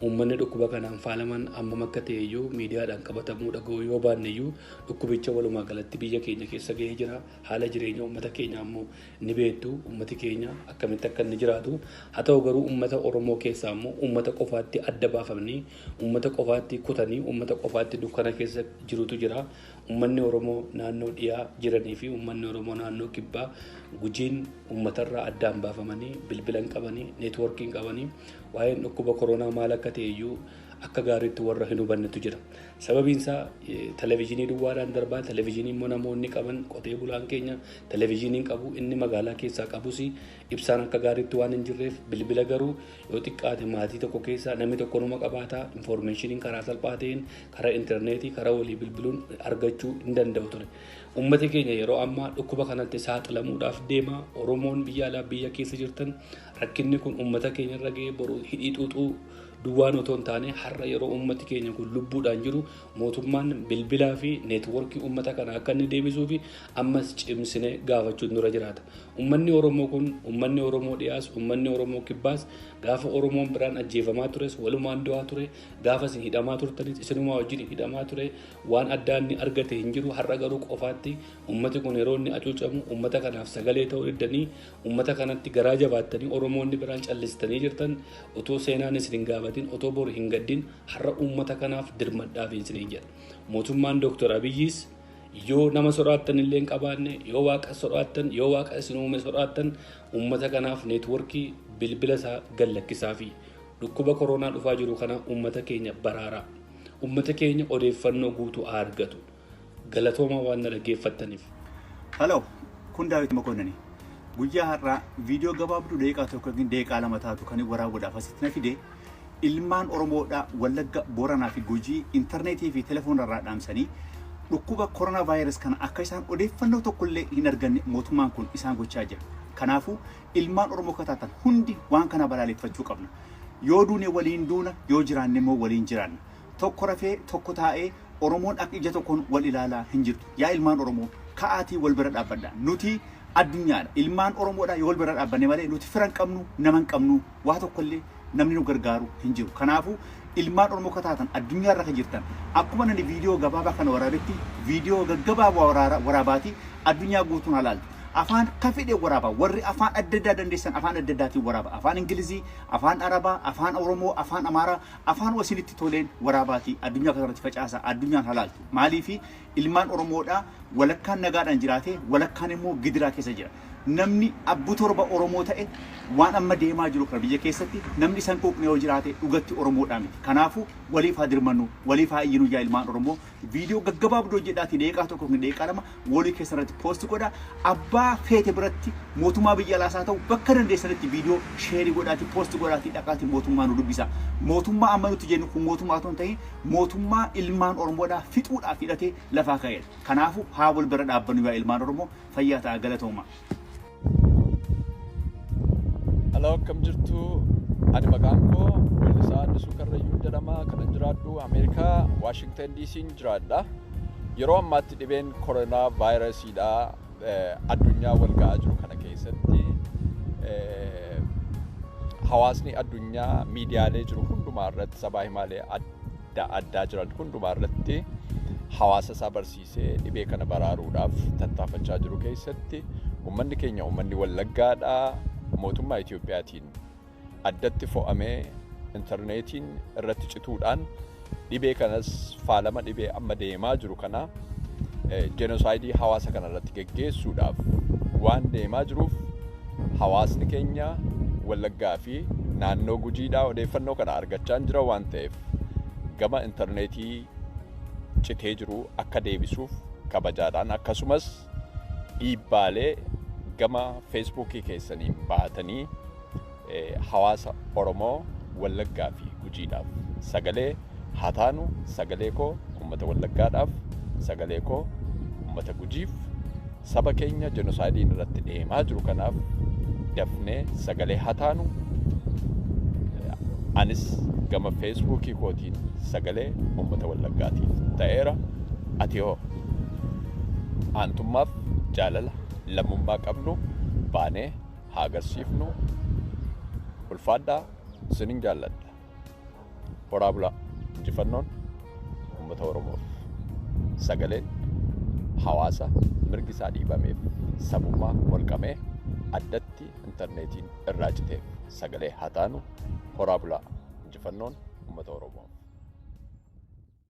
Uummanni dhukkuba kanaan faalaman ammam akka ta'e iyyuu miidiyaadhaan qabatamuu dhaga'uu yoo baanne iyyuu dhukkubicha walumaa galatti biyya keenya keessa ga'ee jira. Haala jireenya uummata keenyaa immoo ni beektu. Uummati keenya akkamitti akka inni jiraatu. Haa ta'u garuu uummata Oromoo keessaa immoo uummata qofaatti adda baafamnii, uummata qofaatti kutanii, uummata qofaatti dukkana keessa jirutu jira. Uummanni Oromoo naannoo dhiyaa jiranii fi uummanni Oromoo naannoo kibbaa Gujiin uummatarraa addaan baafamanii bilbila hin qabanii, neetwoorkii hin qabanii. Waa'een dhukkuba koroonaa maal akka ta'e iyyuu akka gaariitti warra hin hubannetu jira. Sababiin isaa televezyiinii duwwaadhaan darbaa, televezyiinii immoo namoonni qaban qotee bulaan keenya televezyiiniin qabu, inni magaalaa keessaa qabus ibsaan akka gaariitti waan hin jirreef bilbila garuu yoo xiqqaate maatii tokko keessaa namni tokko numa qabaata infoormeeshiniin karaa salphaa ta'een karaa intarneetii karaa walii bilbiluun argachuu hin danda'u ture. Uummati keenya yeroo ammaa dhukkuba kanatti saaxilamuudhaaf deema. Oromoon biyya alaa biyya keessa jirtan Rakkinni kun uummata keenya irra ga'ee boru hidhii xuuxuu duwwaan otoo hin taane har'a yeroo uummati keenya kun lubbuudhaan jiru mootummaan bilbilaa fi neetworkii uummata kana akka inni deebisuu fi ammas cimsine gaafachuun nurra jiraata. Uummanni Oromoo kun uummanni Oromoo dhiyaas uummanni Oromoo kibbaas gaafa Oromoon biraan ajjeefamaa tures walumaan du'aa ture gaafa isin hidhamaa turtanis isinumaa wajjin hidhamaa ture waan addaa inni argate hin jiru har'a garuu qofaatti uummati kun yeroo inni acuucamu uummata kanaaf sagalee ta'uu diddanii Uummata kanatti garaa jabaattanii Oromoonni biraan callistanii jirtan otoo seenaan isin hin gaafatin otoo bor hin gaddin har'a uummata kanaaf dirmadhaafi isiniin jedha. Mootummaan Dooktar Abiyyiis yoo nama sodaattan illee hin qabaanne yoo waaqa sodaattan yoo waaqa isin uume sodaattan uummata kanaaf neetworkii bilbila isaa gallakkisaafi dhukkuba koronaa dhufaa jiru kana uummata keenya baraaraa. Uummata keenya odeeffannoo guutuu haa argatu. Galatoomaa waan na dhaggeeffattaniif. Hello, kun Daawit Mokoonnani. Guyyaa har'aa viidiyoo gabaabduu daqiiqaa tokko yookiin daqiiqaa lama taatu kan waraabuudhaaf asitti na fide ilmaan Oromoodhaa Wallagga, Booranaa fi Gujii intarneetii fi telefoona irraa dhaamsanii dhukkuba koronaa vaayirus kana akka isaan odeeffannoo tokkollee hin arganne mootummaan kun isaan gochaa jira. Kanaafuu ilmaan Oromoo akka taatan hundi waan kana balaaleffachuu qabna. Yoo duune waliin duuna, yoo jiraanne immoo waliin jiraanna. Tokko rafee, tokko taa'ee, Oromoon akka ija tokkoon wal ilaalaa hin jirtu. Yaa ilmaan Oromoo, ka'aatii wal bira dhaabbadhaa. Nuti addunyaadha. Ilmaan Oromoodha. Yoo wal bira dhaabbanne malee nuti fira hin qabnu, nama hin qabnu, waa tokkollee namni nu gargaaru hin jiru. Kanaafuu ilmaan Oromoo akka taatan addunyaarra akka jirtan akkuma nani viidiyoo gabaabaa kana waraabetti viidiyoo gaggabaabaa waraara- waraabaatii addunyaa guutuun halaaltu. Afaan ka fedhe waraabaa warri afaan adda addaa dandeessan afaan adda addaatiin waraaba. Afaan Ingilizii, afaan Arabaa, afaan Oromoo, afaan Amaaraa, Afaan wasinitti toleen waraabaatii addunyaa kanarratti facaasaa addunyaan haa laaltu. Maaliifi ilmaan Oromoodhaa walakkaan nagaadhaan jiraatee walakkaan immoo gidiraa keessa jira. Namni abbu torba Oromoo ta'e waan amma deemaa jiru kana biyya keessatti namni isa hin quuqne yoo jiraate dhugatti Oromoodhaa miti. Kanaafuu waliif haa dirmannuu, waliif haa iyyinuu yaa ilmaan Oromoo Viidiyoo gaggabaabduu hojjedhaatii deeqaa tokko yookiin deeqaa lama woolii keessa irratti poosti godha. Abbaa feete biratti mootummaa biyya alaas haa ta'u bakka dandeessanitti viidiyoo sheerii godhaatii poosti godhaatii dhaqaatii mootummaa nu dubbisa. Mootummaa amma nuti jennu kun mootummaa otoo hin ta'in mootummaa ilmaan Oromoodhaa fixuudhaaf hidhatee lafaa ka'eedha. Kanaafuu haa wal bira dhaabbannu yaa ilmaan Oromoo fayyaa ta'aa galatoomaa. Alaa akkam jirtu ani maqaan koo Weellisaa Addisuu Karrayyuu jedhama kanan jiraadhu Ameerikaa Waashingtan DC'n jiraadha. Yeroo ammaatti dhibeen koronaa vaayirasiidha addunyaa wal ga'aa jiru kana keessatti eh, hawaasni addunyaa miidiyaalee jiru hundumaa irratti sabaa himaalee adda addaa jiran hundumaa irratti hawaasa isaa barsiisa. Isee dhibee kana baraaruudhaaf tattaafachaa jiru keessatti ummanni keenya ummanni Wallaggaadhaa mootummaa Itoophiyaatiin addatti fo'amee intarneetiin irratti cituudhaan dhibee kanas faalama dhibee amma deemaa jiru kana jenosaayidii hawaasa kana irratti geggeessuudhaaf waan deemaa jiruuf hawaasni keenya Wallaggaa fi naannoo Gujiidhaa odeeffannoo kana argachaa hin jira waan ta'eef gama intarneetii citee jiru akka deebisuuf kabajaadhaan akkasumas dhiibbaalee gama feesbuukii keessaniin baatanii hawaasa Oromoo Wallaggaa fi Gujiidhaaf sagalee haa taanu sagalee koo uummata Wallaggaadhaaf sagalee koo uummata Gujiif Saba keenya jenosaayidiin irratti deemaa jiru kanaaf dafnee sagalee haa taanu. Anis gama feesbuukii kootiin sagalee uummata wallaggaatiif ta'eera. Ati hoo aantummaaf jaalala lammummaa qabnu baanee haa agarsiifnu. Ulfaadhaa sinin jaalladha. Horaa bulaa injifannoon uummata Oromoof sagaleen hawaasa mirgi isaa dhiibameef sabummaa molqamee addatti intarneetiin irraa citeef sagalee haa taanu horaa bulaa injifannoon uummata Oromoof.